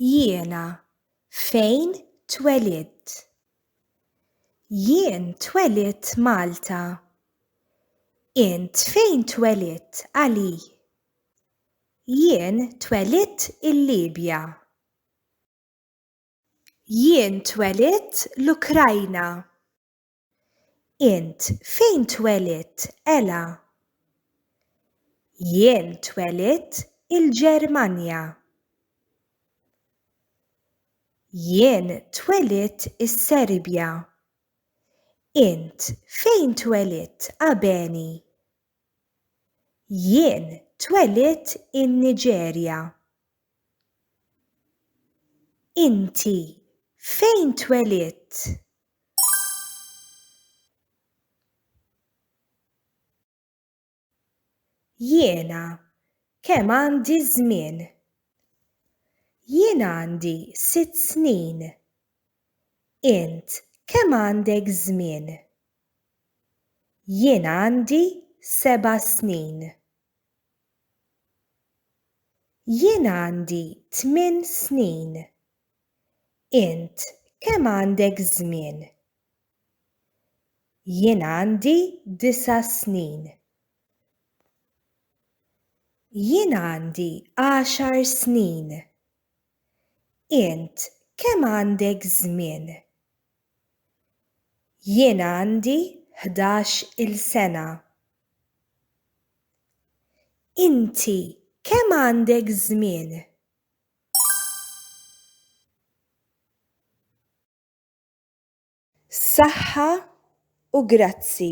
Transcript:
Jiena fejn twelidt? Jien twelidt Malta. Int fejn twelidt Ali? Jien twelidt il-Libja. Jien twelidt l-Ukrajna. Int fejn twelidt, Ella? Jien twelidt il-Ġermanja. Jien twelidt is-Serbja. Int fejn twelidt, Abeni? Jien twelidt in-Niġerja. Inti fejn twelidt? Jiena kemm għandi żmien? Jien għandi sitt snin. Int kemm għandek żmien? Jien għandi seba' snin. Jien għandi tmien snin. Int kemm għandek żmien? Jien għandi disa' snin. Jien għandi għaxar snin. Int kemm għandek żmien? Jien għandi ħdax il-sena. Inti kemm għandek żmien? Saħħa u grazzi.